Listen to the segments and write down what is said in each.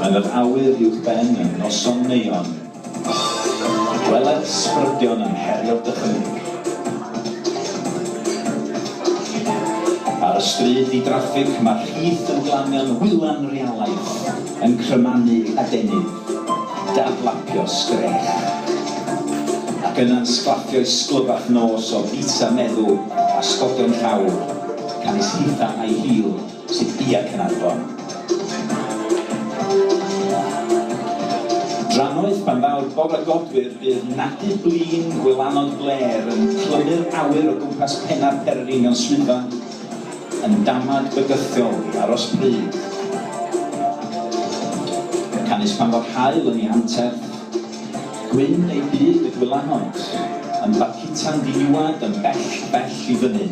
Yn yr awyr uwchben y noson neuon, gweled sbrydion yn herio dychymyg. Ar y stryd di-draffig, mae'r rhith yn glanio'n wylan realaeth, yn crymanu adenydd. Dadlapio sgrech. Ac yna'n sglaffio'i sglyrach nos o bizza meddw a sgogion llawr, canys hitha a'i hil sydd bia Caernarfon. Drannoeth pan ddaw'r bore godwyr bydd nadu blin gwylanod blêr yn clymu'r awyr o gwmpas penna'r pererinion swyddfa. Yn damad bygythiol i aros pryd. Yn canys pan fo'r haul yn 'i hanterth. Gwyn ei byd y gwylanod. Yn barcuta'n ddiniwad yn bell, bell i fyny.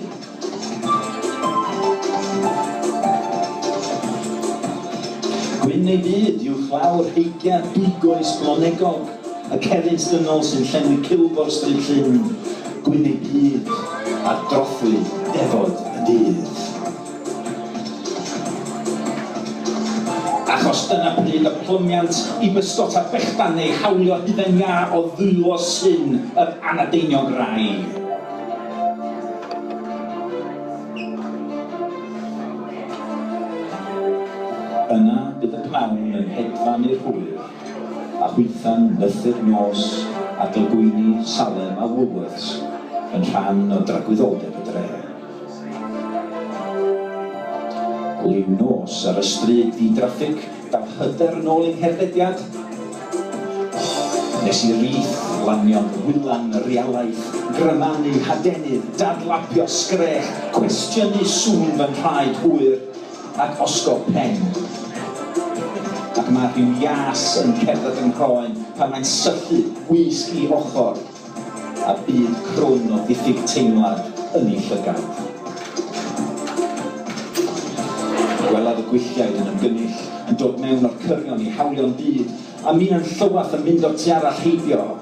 Gwyn ei byd, uwchlaw'r heigiad big-oes blonegog. Y cerrig dynol sy'n llenwi cilgwr Stryd Llyn, Gwynedd Byd a'r drothwy Defod y Dydd. Achos dyna pryd y plymiant i bysgota bechdan neu hawlio hufen iâ o ddwylo Llyn yr Anadeiniog Rai. Yna bydd y pnawn yn hedfan i'r hwyr. a chwitha'n nythu'r nos a dylgwyni Salem a Woolworths yn rhan o dragwyddoldeb y dre. Liw nos ar y stryd ddi-draffig dal hyder yn ôl ei herddediad. Nes i rith, lanio, wylan, realaeth, gryfanu, hadenydd, dadlapio, sgrech, cwestiynu sŵn fy nhraed hwyr. Ac osgo pen. Ac mae rhyw ias yn cerdded fy nghroen pan mae'n syllu gwisg i ochr, a byd crwn o ddiffyg teimlad yn ei llygad. Gwelaf y gwylliaid yn ymgynnull, yn dod mewn o'r cyrion i hawlio'n byd, a minnau'n llywath yn mynd o'r tu arall heibio.